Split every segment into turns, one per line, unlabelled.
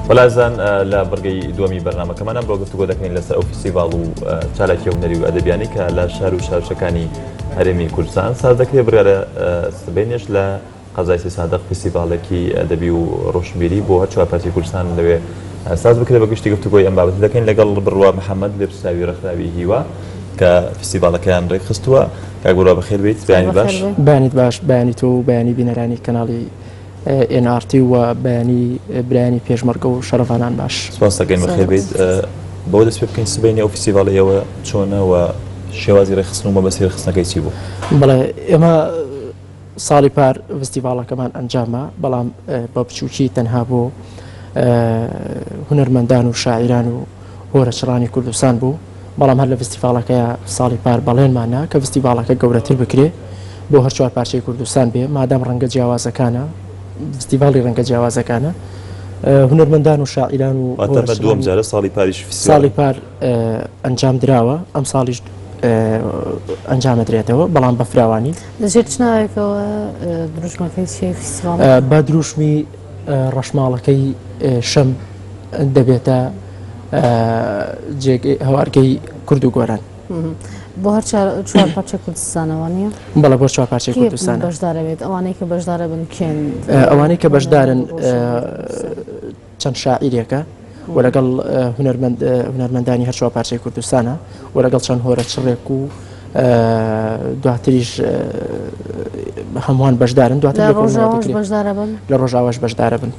بەلازان لە بڕگەی دووەمی بەرنمەکەمان ئەمڕۆ گفتوگۆ دەکەین لەسەر ئەو فیسیڤال و چالاکی هونەری و ئەدەبیانی کە لە شار و شارچەکانی هەرێمی کوردستان ساز دەکرێت بگە لە سبینێش لە قەزایسی سادق فیسیڤالێکی ئەدەبی و ڕۆشنبیری بۆ هەر چوارپاتی کوردستان لەوێ ساز بکرێت بە گشتی گفتوگۆی ئەم بابەت دەکەین لەگەڵ بڕوا محەممەد لێپساوی ڕخراوی هیوا کە فیسیڤالەکەیان ڕێکخستووە کاگوورا بەخێر بیت بەیانی باش بەیانیت باش بەیانی
تۆ و بەیانی بینەرانی کەناڵی ئێن ئاڕ تی و بەیانی برایانی پێشمەرگە و شەرڤانان باش سپاس دەکەین بەخێر بیت
بۆ دەست پێ بکەین سبینی ئەو فیسیڤاڵی ئێوە چۆنەوە شێوازی ڕێخستن و مەبەستی ڕخستنەکەی چی بوو بڵێ ئێمە
ساڵی پار فستیڤاڵەکەمان ئەنجامە بەڵام بە بچووکی تەنها بۆ هونەرمەندان و شاعیران و هۆرەچڕانی کوردستان بوو بەڵام هەر لە فستیڤاڵەکەیا ساڵی پار بەڵێنمان نا کە فستیڤاڵەکە گەورەتر بکرێ بۆ هەر چوار پارچەی کوردستان بێ مادام ڕەنگە جیاوازەکانە فستیڤاڵی ڕەنگە جیاوازەکانە هونەرمەندان و شاعیران و دوم جارە ساڵی
پاریش ساڵی پار
ئەنجام دراوە ئەم ساڵیش ئەنجامە درێتەوە بەڵام بە فراوانی لەژێت ناوێکەوە
دروشمەکەی بە دروشمی
ڕەشماڵەکەی شەم دەبێتە هەوارگەی کورد و گۆران بۆ هەر
چوار پارچە کوردستانەوە نیە بەڵە بۆ چوار پارچەی
کوردستان بەشدارەوێت ئەوانەی کە
بەشدارە بن کێن ئەوانەی کە بەشدارن
چەند شاعیرێکە و لەگەڵ هونەرمەندانی هەر چوار پارچەی کوردستانە و لەگەڵ چەند هۆرە چڕێک و دواتریش هەمووان بەشدارن دواتر لە ڕۆژاواش بەشدارە بن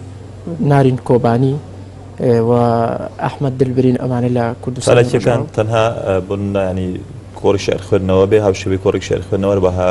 نارین کۆبانی و ئەحمد دلبرین ئەمانە لە کوردستانەکان تەنها
بنانی کۆڕی شعر خوێندنەوە بێ هاوشێوی کۆڕی شعر خوێندنەوە بەها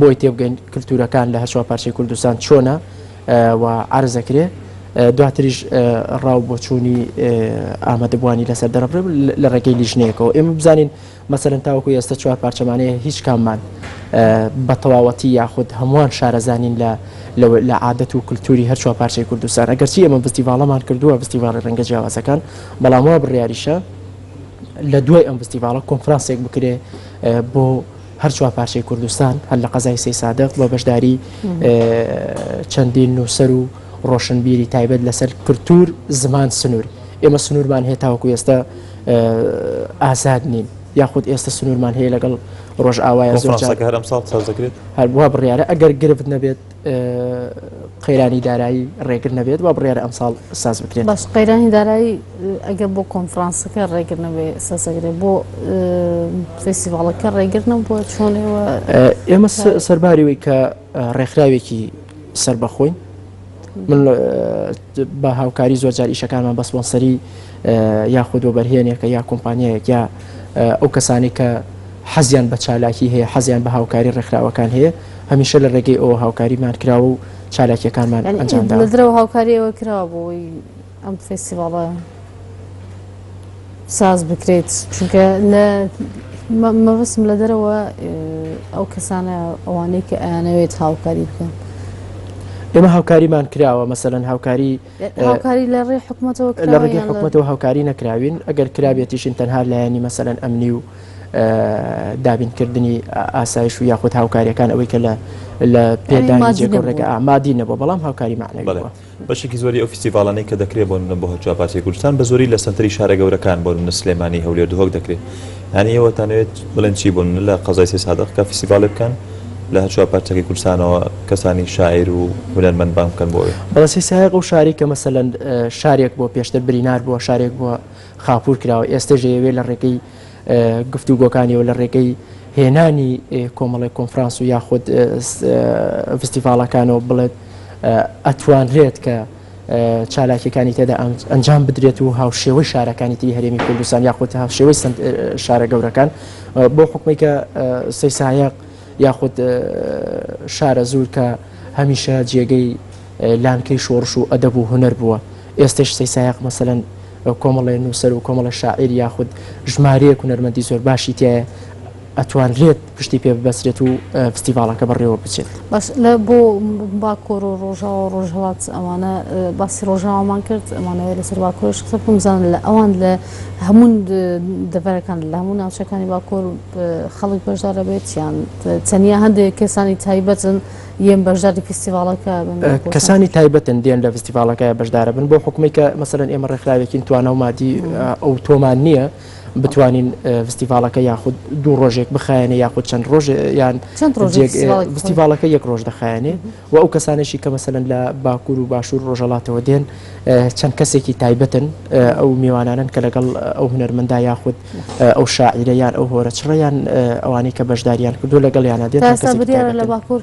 بۆی تێبگەین کلتورەکان لە هەرچوار پارچەی کوردستان چۆنە و عرض ئەکرێ دواتریش ڕاو بۆچوونی ئامادەبووانی لەسەر دەرەبرێ لە ڕێگەی لیژنەیەکەوە ئێمە بزانین مەسەرەن تاوەکو ئێستا چوار پارچەمانەیە هیچ کاممان بە تەواوەتی یاخود هەمووان شارەزانین لە لە عادەت و کللتوری هەر چوار پارچەی کوردستان ئەگەرچی ئێمە بستیڤاڵەمان کردووە بستیڤاڵی ڕەنگە جیاوازەکان بەڵام وا بڕیاریشە لە دوای ئەم بستیڤاڵە کۆنفرانسێک بکرێ بۆ هەر چوار پارچەی کوردستان هەر لە قەزای سەیسادق بە بەشداری چەندین نووسەر و ڕۆشنبیری تایبەت لەسەر کللتور زمان سنوور ئێمە سنوورمان هەیە تاوەکو ئێستا ئازاد نین یاخود ئێستا سنوورمان هەیە لەگەڵ ڕۆژئاوای زۆرەکە هەرم ساڵ
سازدەکرێت هەروە بڕیاە
ئەگەر گرفت نەبێت قەیرانی دارایی ڕێگر نەبێت بە بڕێرە ئەمساڵ ساز بکرێت بەس قەیرانی
دارایی ئەگە بۆ کۆنفرانسەکە ڕێگر نەبێ سەزەگرێ بۆ فستیڤڵەکە ڕێگر نەبووە چۆنەوە ئێمە
سەرباریەوەی کە ڕێکخراوێکی سربەخۆین من بە هاوکاری زۆرجار ئیشەکانمان بەسپۆنسەری یاخود و بەرهێنێکە یا کۆمپانیایەک یا ئەو کەسانی کە حەزیان بە چالاکی هەیە حەزیان بە هاوکاری ڕێکخراوەکان هەیە هەمیشە لە ڕێگەی ئەوە هاوکاریمان کراوە و چالاکییەکانمان ئەنجام داوە. لە دەرەوە هاوکاری ئێوە
کراوە بۆ ئەوەی ئەم فێستیڤاڵە ساز بکرێت؟ چونکە مەبەستم لە دەرەوە ئەو کەسانە ئەوانەی کە ئەیانەوێت هاوکاری بکەن.
ئێمە هاوکاریمان کراوە، مەسەلەن هاوکاری هاوکاری لە ڕێی
حکومەتەوە کراوە یان لە؟ لە ڕێگەی حکومەتەوە
هاوکاری نەکراوین، ئەگەر کرابێتیشین تەنها لایەنی مەسەلەن ئەمنی و دابینکردنی ئاسایش و یاخود هاوکارییەکان ئەوەی کە لە پێدانی جێگە و ڕێگە مادی نەبووە، بەڵام هاوکاری مەعنەوی بووە. بەڵێ بەشێکی زۆری ئەو
فیستیڤاڵانەی کە دەکرێت بۆ نمونە بۆ هەرچوار پارچەی کوردستان بە زۆری لە سەنتەری شارە گەورەکان بۆ نمونە سلێمانی، هەولێر، دهۆک دەکرێت. یانی ئێوە تانەوێت بڵێن چی بوون لە قەزای سەید سادق کە فیستیڤاڵێ بکەن لە هەرچوار پارچەکی کوردستانەوە کەسانی شاعیر و هونەرمەند بانگ بکەن بۆ ئەوێ؟ بەڵێ سەید سادق ئەو شاری
کە مەسەلەن شارێک بووە پێشتر برینار بووە شارێک بووە خاپوور کراوە ئێستەش ئەیەوێ لە ڕێگەی گفتوگۆکانیەوە لە ڕێگەی هێنانی کۆمەڵی کۆنفرانس و یاخود فستیڤاڵەکانەوە بڵێت ئەتوانرێت کە چالاکیەکانی تێدا ئەنجام بدرێت و هاوشێوەی شارەکانی تری هەرێمی کوردستان یاخود هاوشێوەی شارە گەورەکان بۆ حکومی کە سەیسایەق یاخود شارە زور کە هەمیشە جێگەی لانکەی شۆڕش و ئەدەب و هوەر بووە ئێستش سەیسایەق مەسەن کۆمەڵێ نووسەر و کۆمەڵە شاعیر یاخود ژمارەیە کوونەرمەندی زۆر باشی تایە ئەتوانرێت پشتی پێ ببەسرێت و فستیڤاڵەکە بەڕێوە بچێت. باش لە بۆ
باکۆر و ڕۆژاوە و ڕۆژهەڵات ئەوانە باسی ڕۆژاوامان کرد ئەمانەوەی لەسەر باکۆرش قسە بکەم بزانن لە ئەوان لە هەموو دەڤەرەکان لە هەموو ناوچەکانی باکۆر خەڵک بەشدارە بێت یان تەنیا هەندێک کەسانی تایبەتن یەم بەشداری فستیڤاڵەکە کەسانی
تایبەتن دێن لە فستیڤاڵەکە بەشدارە بن بۆ حکومی کە مەسەرەن ئێمە ڕێکخراوێکین توانە و مادی ئەو تۆمان نییە بتوانین فستیڤالەکە یاخود دوو ڕۆژێک بخایەنە یاخود چەند ڕۆژ یان فستیڤالەکە یەک ڕۆژ دەخایەنێ و ئەو کەسانێکی کە مەسەن لە باکوور و باشوور ڕۆژەڵاتەوە دێن چەند کەسێکی تایبەتن ئەو میوانانن کە لەگەڵ ئەو هوەرمەندا یاخود ئەو شاعیرە یان ئەو هۆرە چڕیان ئەوانەی کە بەشداریان کردو لەگەڵ یانە دێت لە
باکوور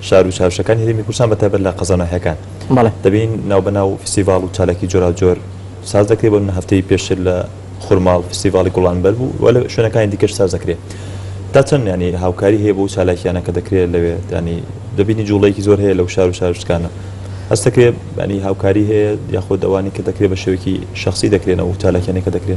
شار و چاوشەکانی هەرێمی کوردستان بە تایبەت لە قەزا و ناحیەکان بەڵێ. دەبین ناو بە ناو فیستیڤاڵ و چالاکی جۆراوجۆر ساز دەکرێ بۆ نمونە هەفتەی پێشتر لە خورماڵ فیستیڤاڵی گوڵانبەر بوو و لە شوێنەکانی دیکەش ساز دەکرێ تا چەند یانی هاوکاری هەیە بۆ ئەو چالاکیانە کە دەکرێ لەوێ یانی دەبینی جوڵەیەکی زۆر هەیە لەو شار و چاوشتکانە هەست دەکرێ یانی هاوکاری هەیە یاخود ئەوانەی کە دەکرێ بە شێوەیەکی شەخسی دەکرێن ئەو چالاکیانەی کە دەکرێ؟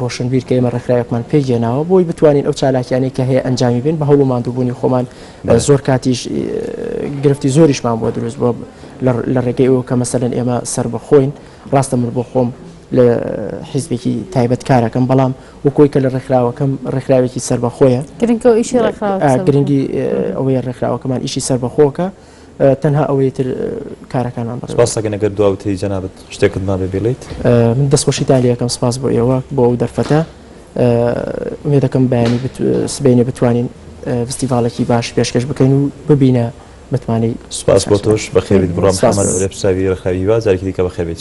ڕۆشنبیر کە ئێمە ڕێکخراوێکمان پێک هێناوە بۆی بتوانین ئەو چالاکیانەی کە هەیە ئەنجامی بین بە هەوڵ و ماندووبوونی خۆمان زۆر کاتیش گرفتی زۆریشمان بۆ دروست بۆ لە ڕێگەی ئەوە کە مەسەن ئێمە سەر بەخۆین ڕاستە من بۆ خۆم لە حیزبێکی تایبەت کارەکەم بەڵام وکۆی کە لە ڕێکخراوەکەم ڕێکخراوێکی سەربەخۆیە گرنگی ئەوەیە ڕێکخراوەکەمان ئیشی سەربەخۆکە تەنها ئەوەی تر کارەکانمان بەڕێوە سپاس دەکەین ئەگەر
دواوتەی جەنابت شتێکت مابێ بڵێیت من دەستخۆشی تا
لەکەم سپاس بۆ ئێوە بۆ ئەو دەرفەتە ئومێ دەکەم بەیانی سبینێ بتوانین فستیڤالێکی باش پێشکەش بکەین و ببینە
متمانەی سپاس بۆ تۆش بەخێبیت بڕۆم حەمەد ئەرێب ساوی رەخاوی
هیوا
جارێکی دیکە بەخێبیت